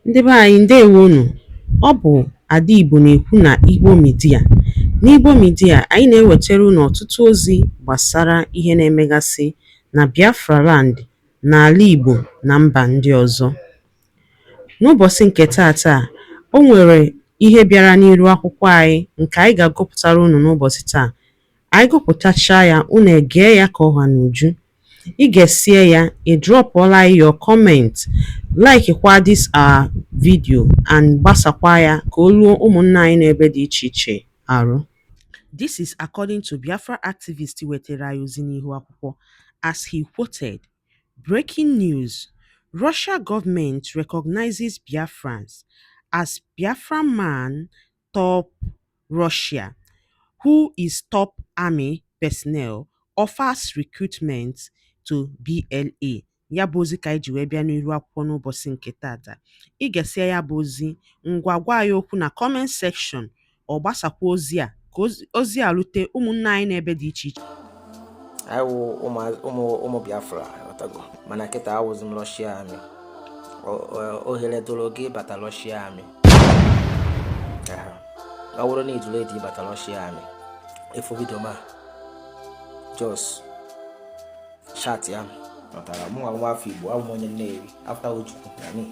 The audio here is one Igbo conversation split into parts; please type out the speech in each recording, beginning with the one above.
Ndị be anyị ndewo nụ. Ọ bụ Ada Igbo na-ekwu na Igbo Media. N'Igbo Media, anyị na-ewetara unu ọtụtụ ozi gbasara ihe na-emegasị na Biafra land, n'ala Igbo na mba ndị ọzọ. N'ụbọchị nke taata, o nwere ihe bịara n'iru akwụkwọ anyị nke anyị ga-agụpụtara unu n'ụbọchị taa. Anyị gụpụtachaa ya, unu egee ya ka ọ ha n'uju. I gesịa ya, ị drọpụọla anyị your comment, laikikwa this our video and gbasakwa ya ka o ruo ụmụnna anyị n'ebe dị iche iche arụ. This is according to Biafra activist wetara anyị ozi n'ihu akwụkwọ as he quoted Breaking news, Russia government recognizes Biafrans as Biafran man top Russia, who is top army personnel, offers recruitment to BLA. Ya bụ ozi ka anyị ji wee bịa n'iru akwụkwọ n'ụbọchị nke taata. Ị gesịa ya bụ ozi, ngwa gwa anyị okwu na comment section, ọ gbasakwa ozi a ka ozi a rute ụmụnna anyị n'ebe dị iche iche. anyị wụ ụmụ ụmụ Biafra ịghọtago mana kịta awụzi m Russia army ohere dụrụ gị ịbata Russia army ọ bụrụ na ị dụ ready ịbata Russia army ị fụ video m a just chat ya mụtara mụ nwa afọ igbo abụ m onye Nnewi after Ojukwu na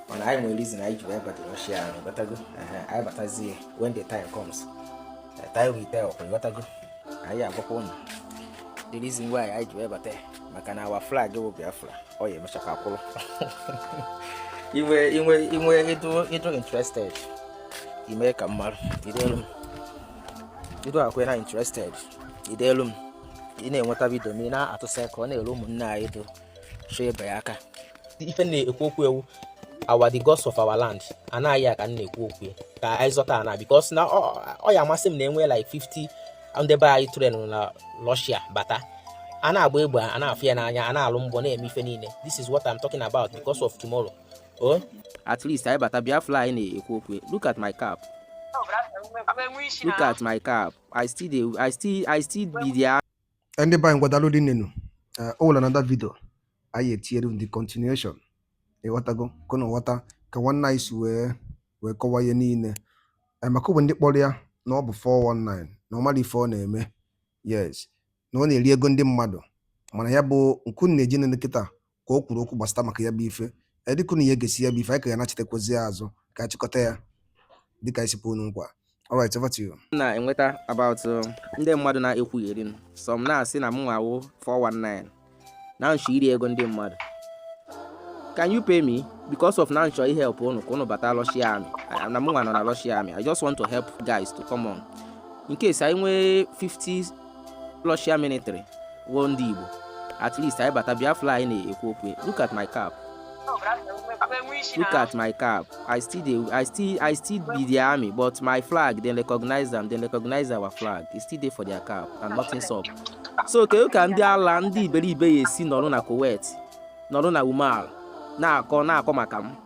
mana anyị nwere reason anyị ji wee bata Russia army ịghọtago anyị batazi when the time comes the time will tell ịghọtago anyị agwakwa ụnụ the reason why anyị ji wee bata maka na our flag bụ Biafra ọ ya-emecha ka akwụrụ inwe inwe inwe ị dụ ị dụ interested ime ka mmadụ i delu m ị dụ akwe na interested i delu m ị na-enweta video m a ị na-atụsa ka ọ na-eru ụmụnne anyị dụ so ebe ya aka ife m na-ekwu okwu ya wụ our the gods of our land ana anyị a ka m na-ekwu okwu ya ka anyị zọta ana because na ọ ya-amasị m na e nwee like 50 ndị be anyị train na Russia bata a na-agba egbe a na-afụ ya n'anya a na-alụ mbọ na-eme ife niile this is what I'm talking about because of tomorrow oh at least anyị bata Biafra anyị na-ekwu okwu look at my cap look at my cap I still dey I still I still be there ndị be anyị ngwa daalụ rinne nụ o nwere another video anyị ya-etinyere the continuation ịghọtago ka unu ghọta ka nwanne anyị si wee wee kọwa ihe niile Eh, maka o nwe ndị kpọrọ ya na ọ bụ 419 na ọ mara ife ọ na-eme yes na ọ na-eri ego ndị mmadụ mana ya bụ nke unu na-eje inene kịta ka o kwuru okwu gbasata maka ya bụ ife ee dịka unu ya egesi ya bụ ife anyị ka ya nachitekwazi ya azụ ka anyị chịkọta ya dịka anyị si kwe unu nkwa alright over to you now and what about uh, ndị mmadụ na-ekwugheri m some na-asị na mụnwa wụ 419 na nchọ iri ego ndị mmadụ can you pay me because of na nchọ ị help unu ka unu bata Russia army I- na mụnwa nọ na Russia army I just want to help guys to come on in case anyị nwee 50 Russia military wụ ndị Igbo at least anyị bata Biafra anyị na-ekwu okwu look at my cap look at my cap I still dey I still I still be the army but my flag dem recognize am dem recognize our flag e still dey for their cap and nothing sup so kedu ka ndị ala ndị iberibe ya esi nọrọ na Kuwait nọrọ na Oman na-akọ na-akọ maka m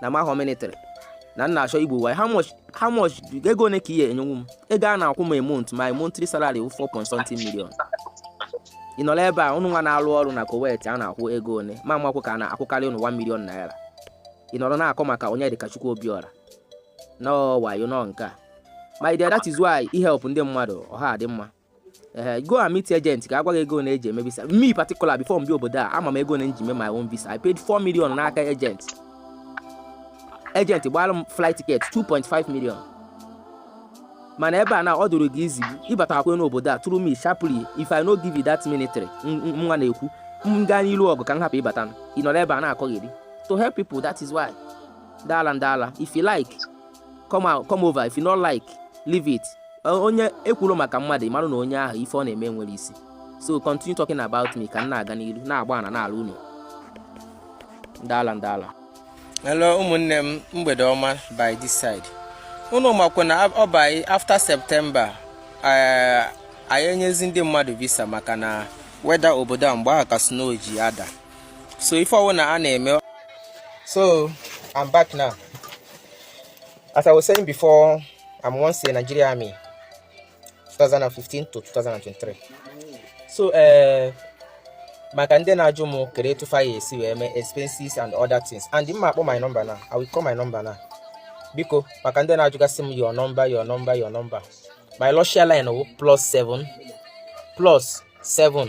na m ahọ military na m na-achọ igbu wayo how much ego one ka ị ya-enyenwu m ego a na-akwụ m a month my monthly salary 4.something million ị nọrọ ebe a ụnụnwa na-alụ ọrụ na Kuwait a na-akwụ ego one ma makwụ ka a na-akwụkarị ụnụ 1 million naira ị nọrọ na-akọ maka onye dịka Chukwu Obiora na ọ wayo na ọ nke a my dear that is why i help ndị mmadụ ọ ha adị mma ee eh, go and meet agent ka ọ gwa gị ego one e ji eme visa me particular before m bịa obodo a ama m ego one m ji mee my own visa i paid 4 million n'aka agent agent gbara m flight ticket 2.5 million mana ebe a na ọ dụrụ gị easy ịbatakwa n'obodo a through me sharply if i no give you that military nwa na-ekwu m gaa n'ilu ọgụ ka m hapụ ịbata ị nọrọ ebe a na-akọgheri to help people that is why ndị ala ndị ala if you like come out come over if you no like leave it onye e kwuru maka mmadụ ị mara na onye ahụ ife ọ na-eme nwere isi so continue talking about me ka m na-aga n'ilu na-agba ana n'ala unu ndị ala ndị ala hello ụmụnne m mgbede ọma by this side unu makwa na ọ by after September eh, anyị enyezi ndị mmadụ visa maka na weather obodo a mgbe ahụ ka snow ji ada so ife ọ wụna a na-eme so I'm back now As I was saying before, I'm once a Nigeria army, 2015 to 2023. So, uh, maka ndị na-ajụ m kere etu fa ya esi wee mee expenses and other things and m ma akpọ my number now I will call my number now biko maka ndị na-ajụgasị m your number your number your number my Russia line wụ plus 7 plus 7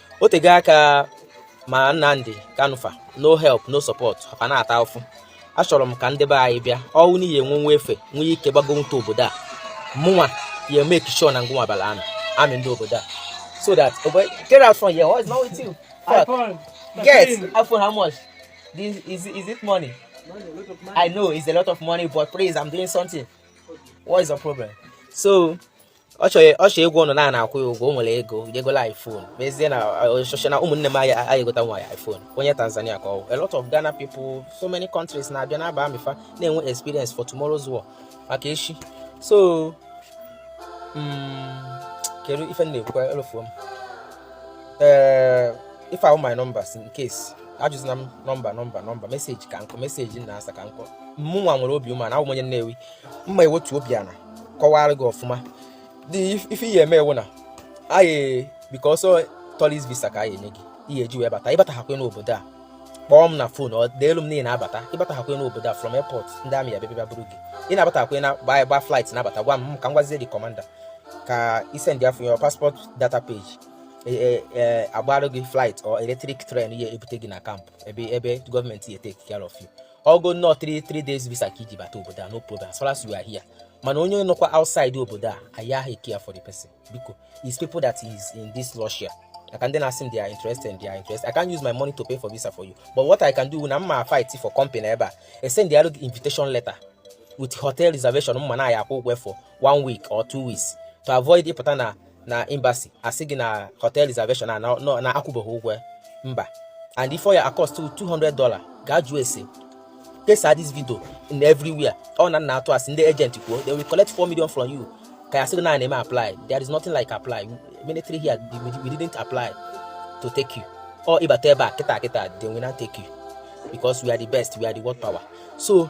o tego aka ma Nnamdi Kanu fa no help no support ha ka na-ata ụfụ achọrọ m ka ndị be anyị bịa ọ wụ na ị ya-enwenwu efe nwee ike gbagonwuta obodo a mụnwa ya make sure na ngụnwa bara army army ndị obodo a so that okay, get out from here. What's wrong with you? Fuck. iPhone. Get iPhone. How much? This is is it money? money? I know it's a lot of money, but please, I'm doing something. What is the problem? So, ọ chọrọ ịgwa ụnụ na a na-akwụ ya ụgwọ o nwere ego je gola iphone mezie na ọchọchọ na ụmụnne m aya aya egota nwa ya iphone onye tanzania ka ọ wụ a lot of ghana people so many countries na-abịa na-aba army fa na-enwe experience for tomorrow's war maka echi so mm, kedu ife m na-ekwukwa elofuo m ee ife ahụ my numbers in case ajụzina m nọmba nọmba nọmba meseji ka nkụ meseji m na-asa ka nkụ mụnwa nwere obi umeala awụ m onye Nnewi m ma ewetu obi ala kọwara gị ọfụma ife ị ya eme wụ na biko ọ sọ tourist visa ka a ya enye gị ị ya eji wee bata ị batahakwe n'obodo a kpọọ m na fon or deelu m na ị abata ị batahakwe n'obodo a from airport ndị army ya bịa bịa buru gị ị na-abatakwe na gba flight na-abata gwa m ka m gwazie the commander ka i send ya your passport data page E, e, e, a gbarụ gị flight or electric train ya ebute gị na camp ebe ebe government ya take care of you ọ go na ọ 3 days visa ka i ji bata obodo a no problem as far as you are here mana onye nọkwa outside obodo a a yaghị care for the person because is people that is in this Russia I can then ask them they are interested and they are interested. I can't use my money to pay for visa for you. But what I can do na m ma fight for company ebe a, I send the invitation letter with hotel reservation mma na ya akwụ ụgwọ for one week or two weeks to avoid ị pụta na na embassy a sị gị na hotel reservation a na akwụbeghị ụgwọ ya mba and ife ọ ya cost 200 dollar ga jụọ ese kesa this video in everywhere ọ na m na-atụ asị ndị agent kwuo they will collect 4 million from you ka ya sị na a na-eme apply there is nothing like apply military here we didn't apply to take you or ị bata ebe a kịta kịta they will not take you because we are the best we are the world power so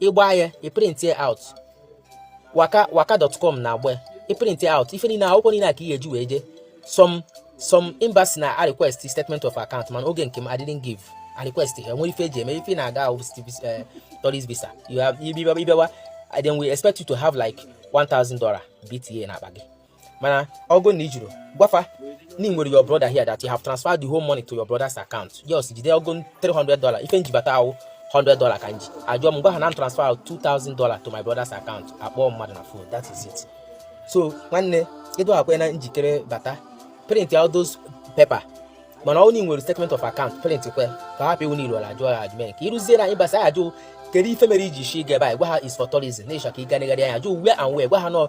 ị gba ya ị print it out waka waka.com na-agba ya ị print it out ife niile akwụkwọ niile a ka ị ga-eji wee jee some some embassy na-arequest statement of account mana oge nke m I didn't give a request ha nwere ife e ji eme ife na-aga ahụ eh, tourist visa you have ị bịawa they will expect you to have like $1000 BTA na akpa gị mana ọ go na i jiro gwa fa na ị nwere your brother here that you have transferred the whole money to your brother's account yes jide ọ go 300 dollar ife m ji bata wụ 100 dollar ka m ji a jụọ m gwa ha na m transfer 2000 dollar to my brother's account a kpọọ mmadụ na phone that is it so nwanne ị dụkwa na njikere bata print out those paper mana ọ na ị nwere statement of account print kwe ka hapụ iwu niile ọ na a jụọ ya ajụ mere ka i ruzie na embassy a jụ kedu ife mere i ji shi ge be anyị gwa ha is for tourism na ị chọ ka ị ga negharịa anya a jụ where and where gwa ha nọ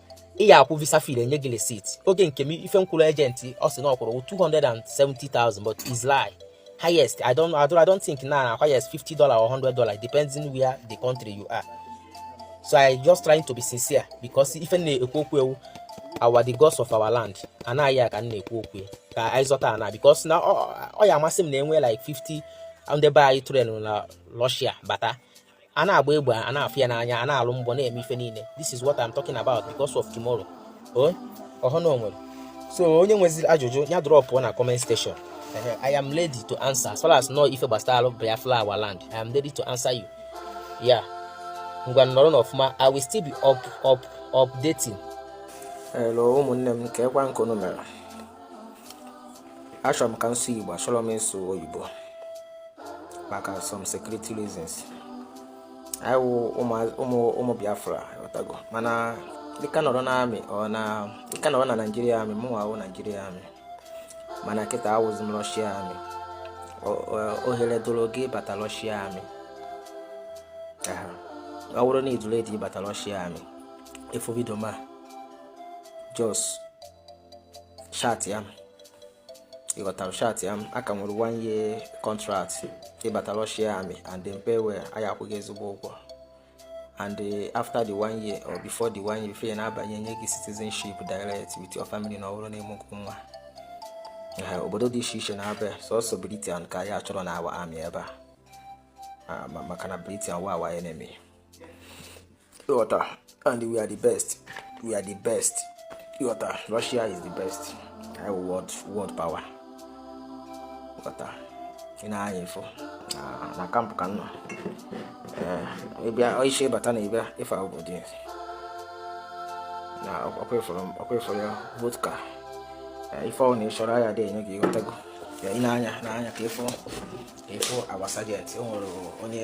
ị ya akwụ visa fee enye gị receipt oge nke m ife m kwụrụ agent ọ sị na ọ kwụrụ 270,000 but is lie highest I don't, I don't, I don't think na highest 50 dollar or 100 dollar depending where the country you are so I just trying to be sincere because ife m na-ekwu okwu ya wụ our the gods of our land anaghị ya ka m na-ekwu okwu ya ka anyị zọta ana because na ọ ya amasị m na e nwee like 50 ndị be anyị tụrụ na Russia bata a na-agba egbe a na-afụ ya n'anya a na-alụ mbọ na-eme ife niile this is what I'm talking about because of tomorrow oh, ọ bụrụ na o nwere so onye nweziri ajụjụ ya drop na comment section I am ready to answer as far as na ọ ife gbasara Biafra our land I am ready to answer you ya ngwa nọrọnụ ọfụma I will still be up up updating hello ụmụnne m kee kwanụ ka unu mere achọrọ m ka m sụọ igbo achọrọ m ịsụ oyibo maka some security reasons anyị wụ ụmụ Biafra ịghọtago mana dịka nọrọ na army or na dịka nọrọ na Nigeria army mụ nwa Nigeria army mana kịta awụzi m Russia army ohere dịrị gị bata Russia army ọ bụrụ na ị dị ready ịbata Russia army ị fụ video m a just chatịa m ịghọtara chatịa m a ka nwere one year contract ịbata Russia army and they pay well a ya-akwụ gị ezigbo ụgwọ and eh, after the one year or before the one year fe na-abanye nye gị citizenship direct with your family na ọ wụrụ na i mego well obodo dị iche iche na-abịa sọsọ Britain ka anyị achọrọ na our army ebe a ah, maka na Britain wụ our enemy ịghọta and we are the best we are the best ịghọta Russia is the best I will world world power ịghọta i nee anya ị fụ na camp ka m nọ ịbịa isi ịbata na ịbịa ị fụ obodo ya na ọkwa ị fụrọ ya vodka ife ọwụna ịchọrọ ya dị enye gị ịghọtago ya i nee anya nee anya ka ịfụ ka ịfụ our sergeant o nwere onye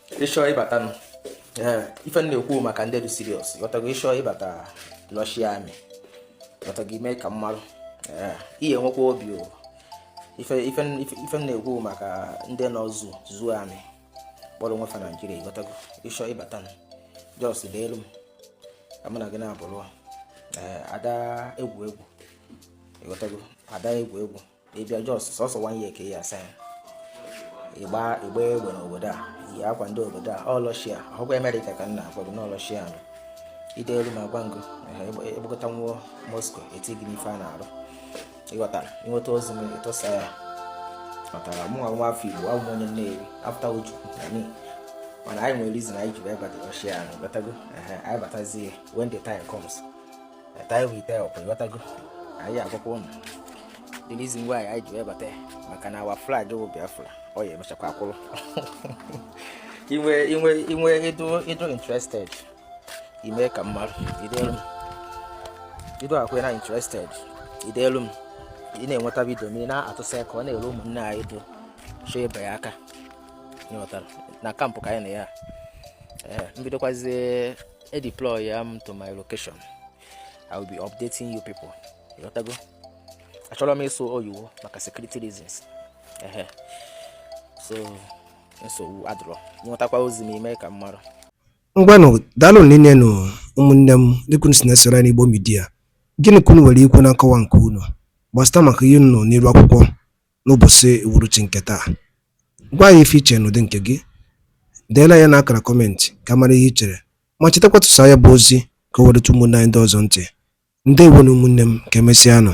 ịchọọ ịbata ife m na-ekwu maka ndị dị serious ịghọtago ịchọọ ịbata Russia army ịghọtago i mee ka m malụ ị ya-enwekwa obi o ife m na-ekwu maka ndị nọ zoo zoo army kpọrọ onwe fa Nigeria ịghọtago ịchọọ ịbata just deelu m ka mụ na gị na-abụrụ ada egwu egwu ịghọtago ada egwu egwu ịbịa just sọsọ one year ka ị ya-asign ịgba ịgba egbe n'obodo a yi akwa ndị obodo a ọ Russia awụkwa America ka m na-agwa gị na ọ Russia nụ i deelu m agwa m gị ịgbakọta nwụọ moscow e tii gị n'ife a na-arụ ịghọtara i nweta ozi m ị tụsaa ya ịghọtara mụ nwa afọ igbo abụ m onye nnewi after uju na me mana anyị nwere reason anyị ji wee bata Russia nụ ịghọtago anyị batazie when the time comes time will tell okay ịghọtago anyị agwakwa ụnụ the reason why anyị ji webata ya maka na our flag bụ biafra ọ ya emechakwa akwụrụ inwe inwe inwe ịdụ ịdụ interested ime ka m malụ idelu m ịdụ akwe na interested idelu m ị na-enweta vidio ma ị na-atụsa ya ka ọ na-elu ụmụnne anyị ndị chọọ ịba ya aka ịghọtara na camp ka anyị na ya ee m bidokwazie e deploy ya m to my location I will be updating you people ịghọtago achọrọ m ịsụ oyiwo maka security reasons ehe so nsogbu adịrọ ịnwetakwa ozi m ime ka m mara ngwanụ daalụ rinne nụ ụmụnne m dịka unu si na-esoro anyị n'Igbo Media gịnị ka unu nwere ikwu na nkọwa nke unu gbasịta maka ihe unu nọ n'iru akwụkwọ n'ụbọchị uhuruchi nke taa. Gwa anyị ife i che n'ụdị nke gị. Deela ya n'akara kọmentị ka a mara ihe i chere ma chetakwa tụsaa ya bụ ozi ka o wee rute ụmụnne anyị ndị ọzọ ntị. Ndewonu ụmụnne m, ka emesịanụ.